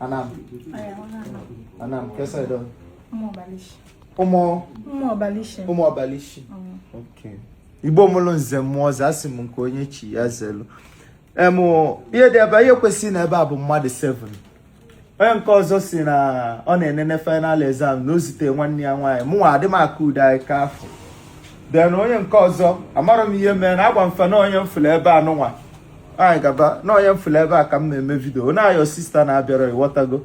Anam. Anam, kesa edo. Ụmụ ọbalishi. Ụmụ. Ụmụ ọbalishi. Ụmụ ọbalishi. Okay. Igbo mụlụ nze mụọ ọzọ asị m nke onye chi ya zelu. Em ihe dị ebe ihe kwesịrị ịnọ ebe a bụ mmadụ 7. Onye nke ọzọ si na ọ na-enene final exam na o zite nwanne ya nwaanyị mụnwa adị m aka ude anyị ka afọ. Then onye nke ọzọ amarọ m ihe mere na agwa m fa na onye m fụlụ ebe anụnwa anyị gaba na onye m fụlụ ebe a ka m ya-eme vidio na your sister na-abịara ịghọtago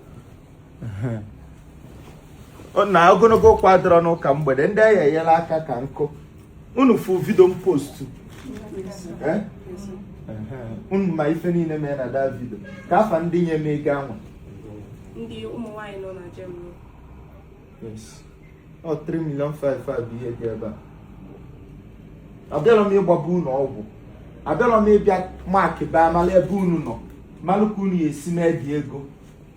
na ogologo okwu adịrọ n'ụka mgbede ndị a ya-enyelụ aka ka m kpọ unu fụ vidio m postu eh? unu ma ife niile mee na that vidio ka afa ndị nye m ego anwa ndị ụmụ nwaanyị nọ na Germany ọ 3 million 5 bụ ihe dị ebe a abịara m ịgbaba unu ọgwụ abịara m ịbịa maakị baa mara ebe unu nọ malụ ka unu ya-esi mee the ego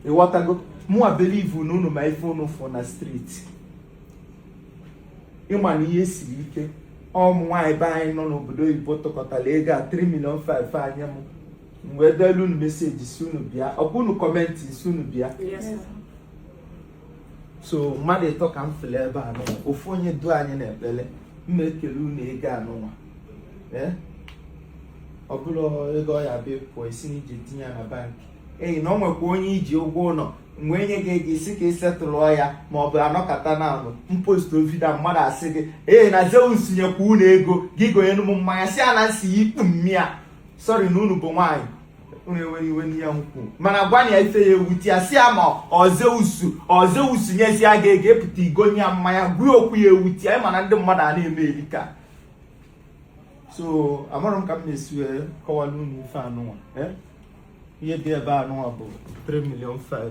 ịghọtago mụwa believe na unu ma ife unu fụ na street ịma na ihe siri ike ụmụ nwaanyị be anyị nọ n'obodo oyibo tụkọtara ego a 3 million 5 nye m m wee delu unu message sị unu bịa ọkwa unu kọmentị sị unu bịa so mmadụ ịtọ ka m fụlụ ebe anụnwa ofu onye du anyị n'ekpele m ya-ekelu unu ego anụnwa eh? ọ bụrụ ego ọ ya bịa pụọ ị sị na i ji tinye ya na bankị eyi na o nwekwa onye i ji ụgwọ ụnọ m wee nye gị ego ị sị ka ị setụlụọ ya ma ọ bụ anọkata na anụ m postuo vidio mmadụ asị gị ee na Zeus nyekwa unu ego gị gonyere m mmanya sị ya na m sị ya ikpu nne ya sorry na unu bụ nwaanyị mana gwa ya ife ya-ewute ya sị ya ma ọ Zeus ọ Zeus nyesịa gị ego ị pụta i gonye ya mmanya gwa ya okwu ya-ewute ya ịma na ndị mmadụ a na-eme erika so amarọ m ka m ya-esi wee eh, kọwara unu ife anụnwa eh? ihe dị ebe anụnwa bụ 3 million 5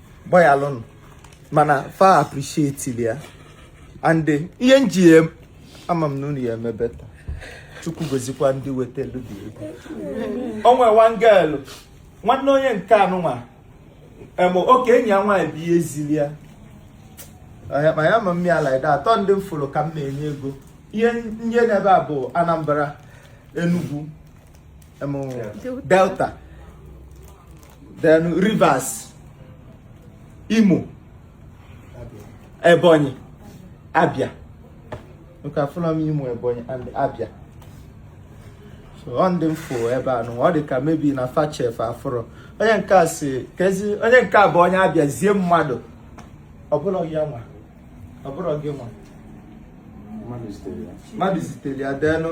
gbayalụnụ mana fa appreciate ya and ihe m ji ama m na unu ya-eme better Chukwu gozikwa ndị wetelu the ego o nwere one girl nwanne onye nke anụnwa em oke enyi ya nwaanyị bụ ihe ziri ya Ọya- ma ya ma m like that ọ ndị m fụrụ ka m ya-enye ego ihe m nwe n'ebe a bụ Anambra Enugwu Delta then Rivers Imo Ebonyi Abia nke afụrọ m Imo Ebonyi and Abia so ọ ndị m fụ ebe anụnwa ọ dị ka maybe na fa sef afụrọ onye nke a si kezi onye nke a bụ onye Abia zie mmadụ ọ bụrụ ya nwa ọ bụrụ gị nwa mmadụ zitere ya denụ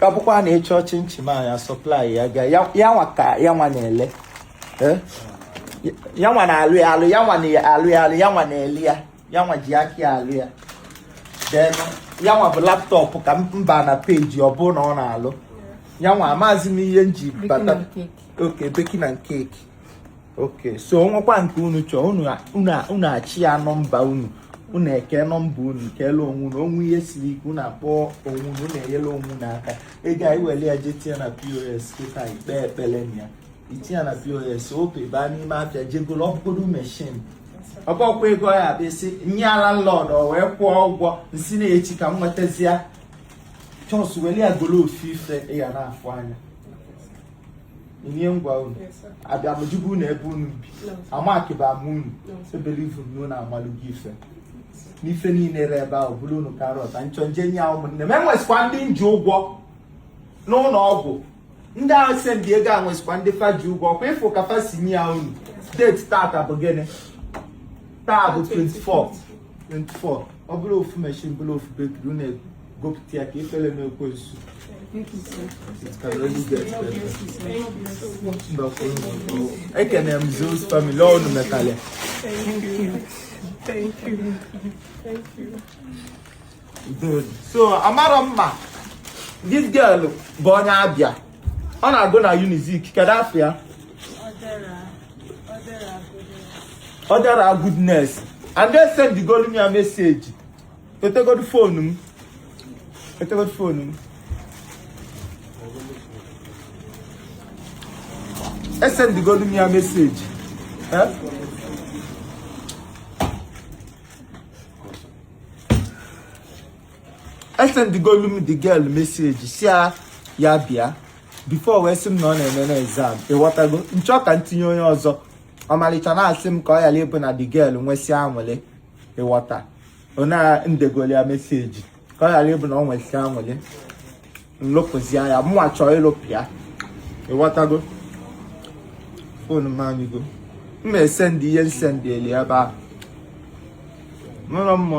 ka bụkwa na ịchọ chinchin a ya supply ya ga ya nwa ka ya nwa na-ele eh? ya nwa na-alụ ya alụ ya nwa na-alụ ya alụ ya nwa na-ele ya ya nwa ji aka ya alụ ya then ya nwa bụ laptop ka mba na page ọ bụ na ọ na-alụ ya nwa amazi m ihe m ji bata okay baking and cake okay so o nwekwa nke unu chọọ unu achị ya nọmba unu unu eke nọmba unu kelee onwe unu o nwee ihe siri ike unu akpọ onwe unu unu enyelu onwe unu aka ego anyị were ya jee tinye na POS kịta ikpe ekpere na ya i tinye ya na POS ope baa n'ime afịa jee golo ọ bụgodu machine ọkpọkwa ego ya bụ isi nye landlord o wee kwụọ ụgwọ m sị na echi ka m nwetazie chọs were ya golo ofu ife ị ya na-afụ anya nye ngwa unu abịa m jụba unu ebe unu bi amakịba m unu ebelievu m na unu amalụgo ife n'ife niile re ebe ahụ bụrụ unu karọt nchọ nje nye ahụ ụmụnne m enwesikwa ndị nji ụgwọ n'ụlọ ọgwụ ndị ahụ sendị ego a nwesikwa ndị fa ji ụgwọ kwa ịfụ ka fa si nye ya unu date tata bụ gịnị taa bụ 24 24 ọ bụrụ ofu machine bụrụ ofu bakery unu gopụta ya ka ifele mee ekwensu ekene m Zeus family unu metalị ya so amara m ma this girl bụ onye Abịa ọ na-agụ na Unizik kedu afa ya Ọdera Goodness esendigolu m ya message Wetegodi phone m. Wetegodi phone m. Esendigodi m ya message. Eh? Esendigolu m the girl message sị ya ya bịa before wee sị m na ọ na-eme na exam ịghọtago m chọọ ka m tinye onye ọzọ ọmalịcha na-asị m ka ọ yala ịbụ na the girl nwesịa anwụlị ịghọta ọ na m degoli ya message ka ọ yala ịbụ na ọ nwesịa anwụlị m lopụzia ya mụnwa chọọ ịlopụ ya ịghọtago phone m anyụgo m na-esendị ihe m sendị eli ebe ahụ mụrụ m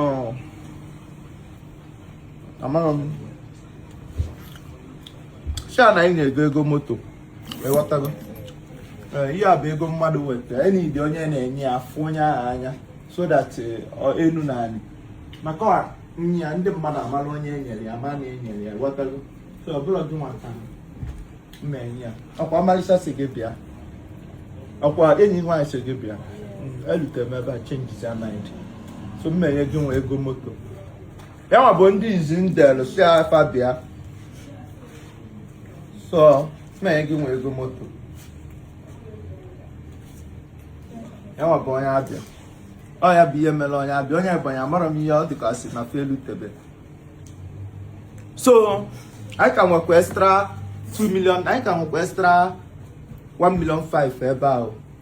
amara m sha na anyị na-ego ego moto ịghọtago eh, ihe a bụ ego mmadụ weta and onye na-enye ya afụ onye ahụ anya so that eh, enu na anị maka ya ndị mmadụ amara onye e nyere ya ma na e nyere ya ghọtago so ọbụla gị nwa ka m na-enye ya ọkwa ọmalịcha sị gị bịa ọkwa enyi nwaanyị sị gị bịa elutere m ebe a changezia mind so m na-enye gị nwa ego moto ya nwa bụ ndị izi ndelu si afa bịa so na gị nwe ego moto ya nwa bụ onye abịa ọ ya bụ ihe mere onye abịa onye ebonyi amarọ m ihe ọ dịka si na felu tebe so anyị ka nwekwa extra 2 million anyị ka nwekwa extra 1 million 5 ebe ahụ